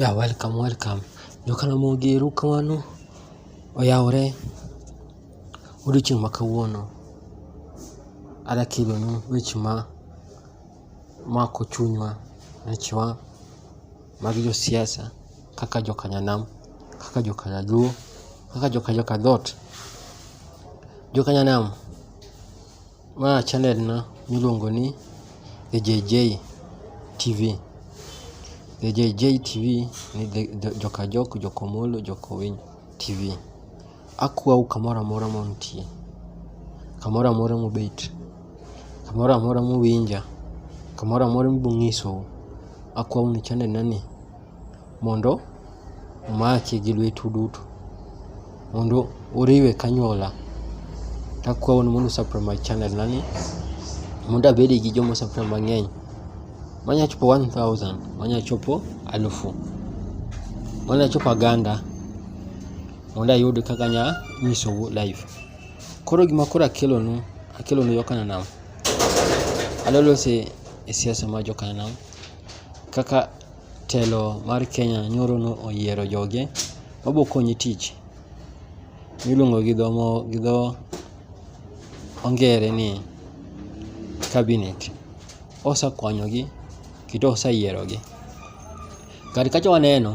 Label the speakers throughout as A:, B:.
A: Ya welcome welcome. Jokaramogi eru kamano oyawore odiochieng' ma kawuono. Ada kelonu weche ma mako chunywa wechwa mag josiasa kaka joka nyanam, kaka joka nyaluo, kaka joka joka dhot. Joka nyanam. Ma chanel na miluongo ni The JJ TV. The JJ TV ni joka jok, joka omolo, joka owiny TV. Akwau kamoro amora ma untie, kamoro amora mubet, kamoro amora muwinja, kamoro amora mibung'isou, akwau ni chanel na ni. mondo omaki gi lwetu duto mondo uriwe kanywola takwau ni mondo usubscribe my channel nani mondo abede gi joma osubscribe mang'eny manya chopo 1000 manya chopo alufu manya chopo aganda mondo ayud kaka anya nyisou live koro gima koro akelonu akelonu yo kananam alolose e siasa ma jo kananam kaka Telo mar Kenya nyoro no oyiero joge mabo konyi tich miluongo gi dho mo gi dho ongere ni cabinet. Osekonyogi kendo oseyierogi. Kar kacha waneno,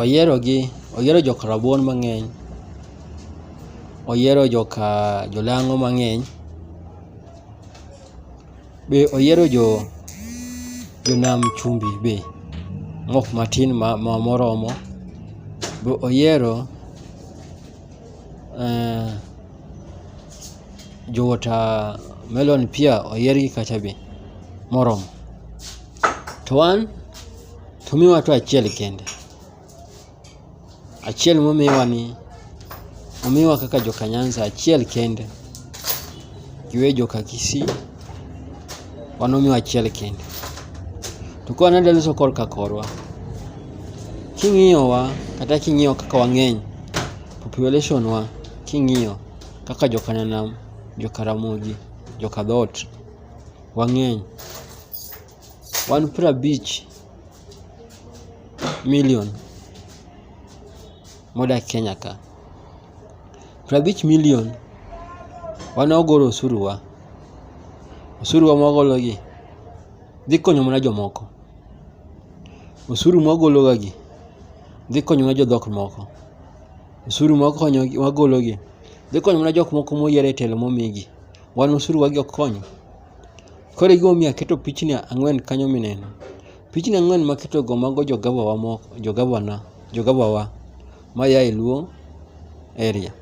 A: oyierogi oyiero jok rabuon mang'eny, oyiero joka jolang'o mang'eny, Be oyiero jo jonam chumbi be ng'ok matin ma moromo? Be oyiero eh, jo watermelon pia oyiergi kacha be moromo? To wan to miwa to achiel kende. Achiel momiwa ni omiwa kaka joka Nyanza achiel kende giwe joka Kisii wan omiwa achiel kende to ka wanadwa loso korka korwa king'iyowa kata king'iyo kaka wang'eny population wa king'iyo kaka joka Nyanam, joka Ramogi, joka Dhot wang'eny Wan prabich million modak Kenya ka. Prabich million wan wagolo osuru wa. Osuru wa mwagolo gi dhi konyo mana jomoko. Osuru mwagolo ga gi dhi konyo mana jodhok moko. Osuru mwakonyo mwagolo gi dhi konyo mana jok moko moyier e telo momigi. Wan osuru wa gi ok konyo? Koro e gimomiyo aketo pichni ang'wen kanyo mineno. Pichni ang'wen maketogo mago jogabawa moko, jogabana, jogabawa ma ya e Luo area.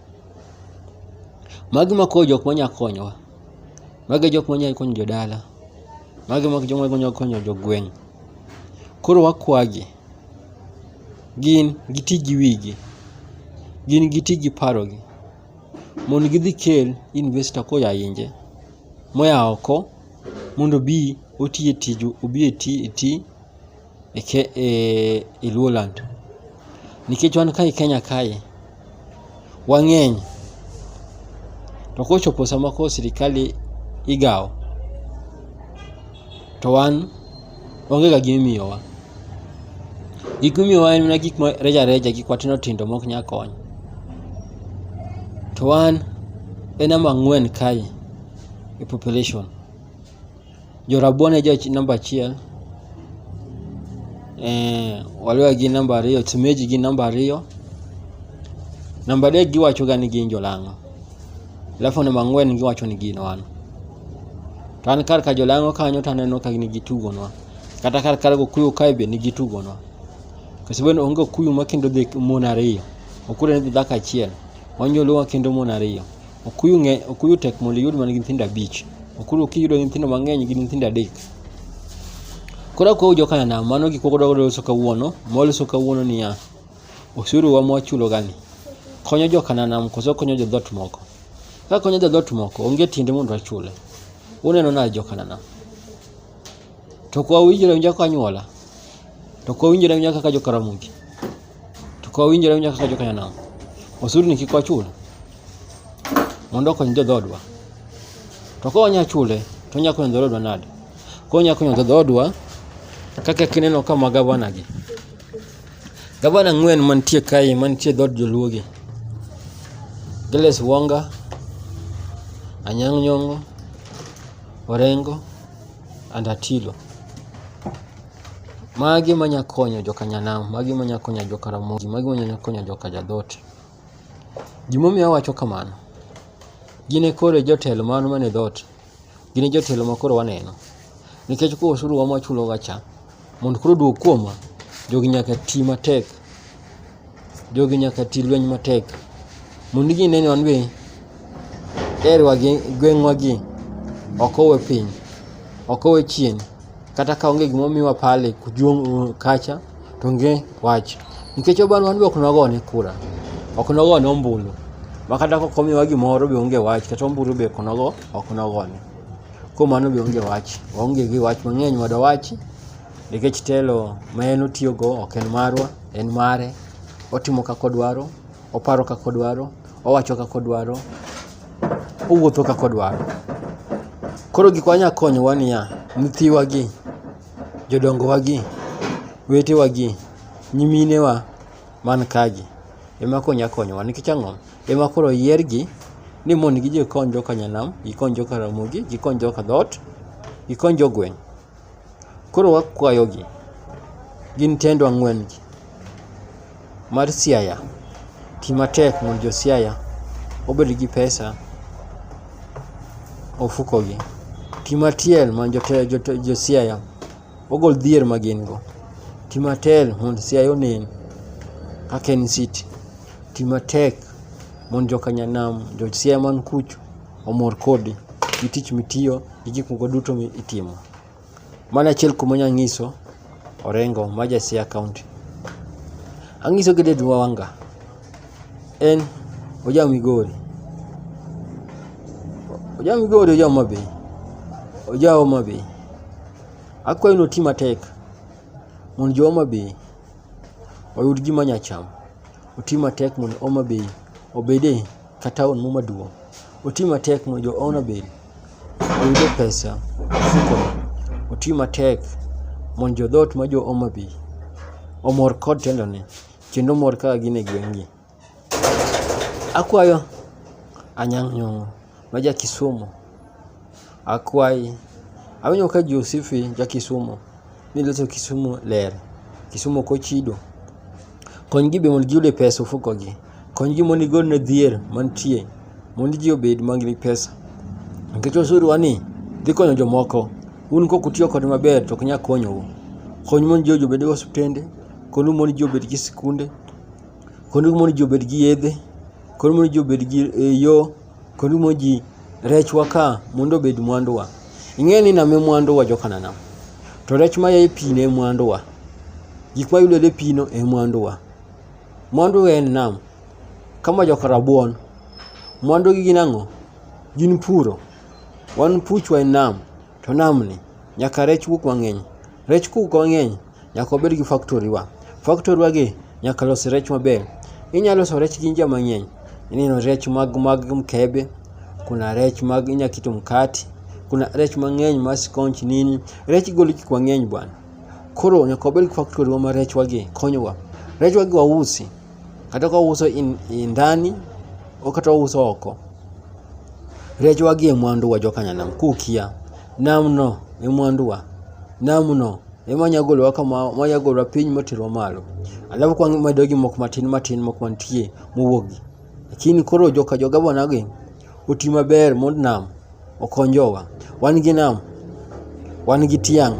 A: Magi ma koro jok manya konyowa. Magi e jok manya konyo jodala. Magi e jok manya konyo jogweng'. Koro wakwagi, gin giti gi wigi. Gin giti gi parogi. mon gidhi kel investor koya inje moya oko mondo obi oti e tij obi e ti e ti e, ke, e, e Luoland nikech wan kae Kenya kae wang'eny to kochopo sama koro sirikal igawo to wan onge ga gima imiyowa. Gik mimiyowa en mana gik ma reja reja gik matindo tindo mok nya konyo. To wan e namba ang'wen kae e population. Jo rabuon e jo namba achiel, waluya gin namba ariyo, semeji gin namba ariyo, namba adek giwacho ga ni gin jolang'o. Level namba ang'wen giwacho ni gin wan. To an kar ka jolang'o kanyo to aneno ka nigi tugonwa. Kata kar kar gokuyo kae be nigi tugonwa. Kasibeno onge okuyu ma kendo dhi mon ariyo. Okuyu ne dhi dhako achiel. Wanjoluwa kendo mon ariyo. Okuyu ng'e okuyu tek mondo iyud man gi nyithindo abich. Okuyu kiyudo nyithindo mang'eny gi nyithindo adek. Koro akuyo jo Kanana mano gik mwadwa loso kawuono. Mwaloso kawuono niya. Osuru wa mwachulo gani? Konyo jo Kananam koso konyo jo dhot moko? Ka konyo jo dhot moko, onge tiende mondo achule. Uneno na jo Kananam. To kwa winjore winja kwa nyuola. To kwa winjore winja kaka jo Karamogi. To kwa winjore winja kaka jo Kananam. Osuru ni kik wachul. Mondo konyo jo dhodwa. To kwa wanya chule, to nya konyo jo dhodwa nade? Kwa nya konyo jo dhodwa kaka kineno kama gavana gi. Gavana ang'wen mantie kae mantie dhod joluogi. Giles Wonga, Anyang' Nyong'o, Orengo and Atilo. Magi manya konyo joka Nyanam, magi manya konyo joka Ramogi, magi manya konyo joka Jadhot. Gimomiyo awacho kamano, gin e koro jotelo mano mane dhot. Gin e jotelo ma koro waneno. Nikech koro osuru wa mwachuloga cha, mondo koro oduog kuomwa, jogi nyaka ti matek. Jogi nyaka ti lweny matek. Mondo gine ni wan be area wa gi, gweng'wa gi, ok owe piny, ok owe chien. kata ka onge gima omiwa pale kujuong kacha to onge wach nikech oban wan be ok nogone kura ok nogone ombulu ma kata kok omiwa gimoro be onge wach kata ombulu be ok nogo ok nogone kuom mano be onge wach waonge gi wach mang'eny mondo wachi nikech telo ma en otiyogo ok en marwa en mare otimo kaka odwaro Oparo kaka odwaro, owacho kaka odwaro, owuotho kaka odwaro. Koro gik wanya konyowa niya, nyithiwa gi, jodongowa gi, wetewa gi, nyiminewa man ka gi ema koro nya konyowa nikech ang'o? Ema koro oyiergi ni mondo gidhi gikony joka nyanam, gikony joka Ramogi, gikony joka dhoot, gikony jogweng'. Koro wakwayogi gin tendo ang'wen-gi mar Siaya, ti matek mondo jo Siaya obed gi pesa ofukogi. Ti matiel mondo jo Siaya ogol dhier ma gin go. Ti matel mondo Siaya onen kaka en city. Ti matek mondo joka Nyanam, jo Siaya man kucho omor kodi gi tich mitiyo. gi gik moko duto mi itimo. Mano achiel kuom onya ng'iso Orengo ma ja Siaya County. Ang'iso gi David Wawanga, en oja Migori. Oja Migori oja Homa Bay, oja Homa Bay. Akwayo ni oti matek mondo jo Homa Bay oyud gima nya chamo. Oti matek mondo Homa Bay obede ka taon mo maduong'. Oti matek mondo jo Homa Bay oyudo pesa e ofuko. Oti matek mondo jo dhoot ma jo Homa Bay omor kod tendone kendo omor ka gin e gweng' gi. Akwayo Anyang' Nyong'o ma ja Kisumu Akwayi, awinjo ka ji osifi ja Kisumu ni loso Kisumu ler, Kisumu ok ochido. Kony gi be mondo giyud e pes ofuko gi. Kony gi mondo igol ne dhier mantie mondo ji obed man gi pesa. Nikech osuru wa ni dhi konyo jomoko, un kok utiyo kode maber to ok nyal konyou. Kony mondo ji obed gi osiptende, kony mondo ji obed gi sikunde, kony mondo ji obed gi yedhe, kony mondo ji obed gi yo. Korumo ji rechwa ka mondo obed mwanduwa. Ing'eyo ni nam e mwanduwa jokananam. To rech ma yaye pi ne mwanduwa. Gik ma yudore e pino e mwanduwa. Mwanduwa en nam. Kama joka rabuon. Mwandugi gin ang'o? Gin puro. Wan puchwa en nam. to namni nyaka rech wuog mang'eny. Rech kowuok mang'eny nyaka wabed gi factory wa. Factory wa gi nyaka los rech maber. Inya loso rech gi njia mang'eny. Ineno rech mag mag mkebe, kuna rech mag inya keto mkati, kuna rech mang'eny ma skonch nini. Rech igolo gik mang'eny bwana. Koro nyaka wabed gi factory wa ma rech wa gi konyowa. Rech wa gi wausi. kata ka ouso i ndani kata ouso oko rech wagi e mwanduwa jokanyanam kukia namno e mwanduwa namno ema nya golowa kama manya golowa piny moterwa malo alafu kwa medo gi moko matin matin moko mantie mowuogi lakini koro joka jogabona gi oti maber mond nam okonjowa wan gi nam wan gi tiang'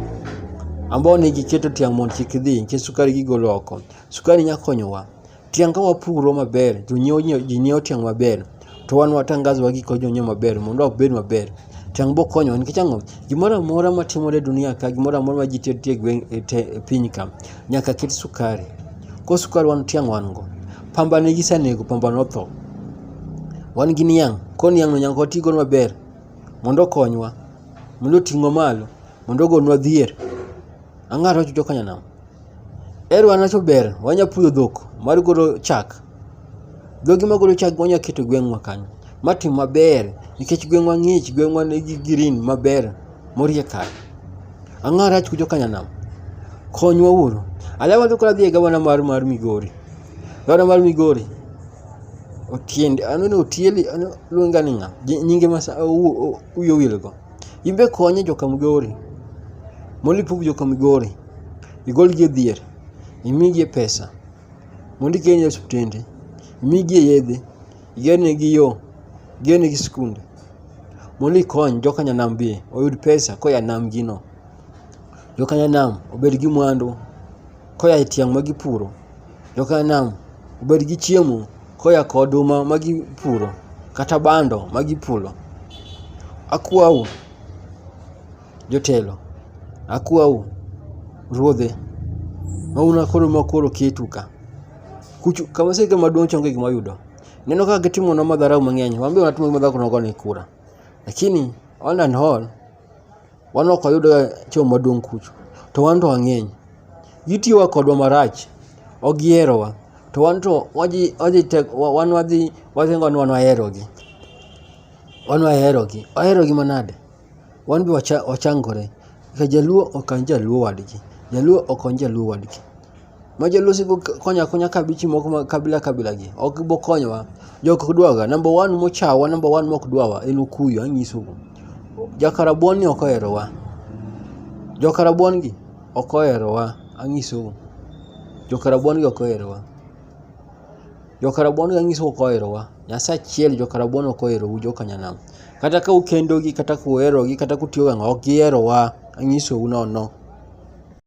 A: ambao ne giketo tiang' mondo kik dhi nikech sukari gigolo oko Sukari nya konyowa. Tiang' ka wapuro maber, jonyiewo ji nyiewo tiang' maber. To wan watangazo wa gik ma jonyiewo maber mondo wabed maber. Tiang' biro konyowa nikech ang'o? Gimoro amora matimore e dunia ka, gimoro amora ma ji tedo e gweng' e te e piny ka, nyaka ket sukari. Koro sukari wan tiang' wan go. Pamba ne gisenego, pamba notho. Wan gi niang', koro niang'no nyaka wati godo maber mondo okonywa, mondo oting'wa malo, mondo ogolnwa dhier. Ang'ata wacho jo Kanyanam. Ero wanacho ber wanya puyo dhok mar golo chak. Dhogi magolo chak wanya keto gweng'wa kanyo. Ma tim maber nikech gweng'wa ng'ich, gweng'wa nigi green maber morie kar. Ang'o marach kucho ka nyanam? Konywa uru. Alawa to koro adhi e gavana mar mar Migori. Gavana mar Migori Otiende, aneno Otiende, luonga ni ng'a? Nyinge ma sa- u- u- uyowil go. Imbe konye joka Migori. Mondo ipug joka Migori. Igolgi e dhier. Imigie pesa. Mondo ikelgi e osiptende. Imigie yedhe. Igernegi yo. Igernegi sikunde. Mondo ikony joka Nyanam be oyud pesa koya e namgino. Joka Nyanam obed gi mwandu. koya e tiang' ma gipuro, jo Kanam obed gi chiemo koya ka oduma ma gipuro, kata bando ma gipulo. Akwau jotelo, akwau ruodhe ma un akuru ma koro oketu ka, kuchu ka wasike maduong' cha onge gima wayudo. Ineno kaka gitimonwa madharau mang'eny, wan be watimonegi madharau ka wan go negi kura. Lakini all and all Wan ok wayudga choo maduong' kucho, to wan to wang'eny. Gitiyoga kodwa marach, ok giherowa. To wan to waji waji tek wan wadhi waringo ni wan waherogi. Wan waherogi, waherogi manade? Wan be wacha wachangore. Jaluo okany jaluo wadgi, jaluo okony jaluo wadgi. ma jalosi go konyo akonya kabichi moko ma kabila kabila gi ok bo konyowa jok ok dwaga number one mochawa number one mok dwawa en okuyo anyiso go jakarabuon ni ok oherowa jokarabuon gi ok oherowa anyiso go jokarabuon gi ok oherowa jokarabuon gi anyiso ok oherowa nyasaye achiel jokarabuon ok oherou jokanyanam kata ka ukendogi kata kuherogi kata kutiyogo ang'o ok giherowa anyisou nono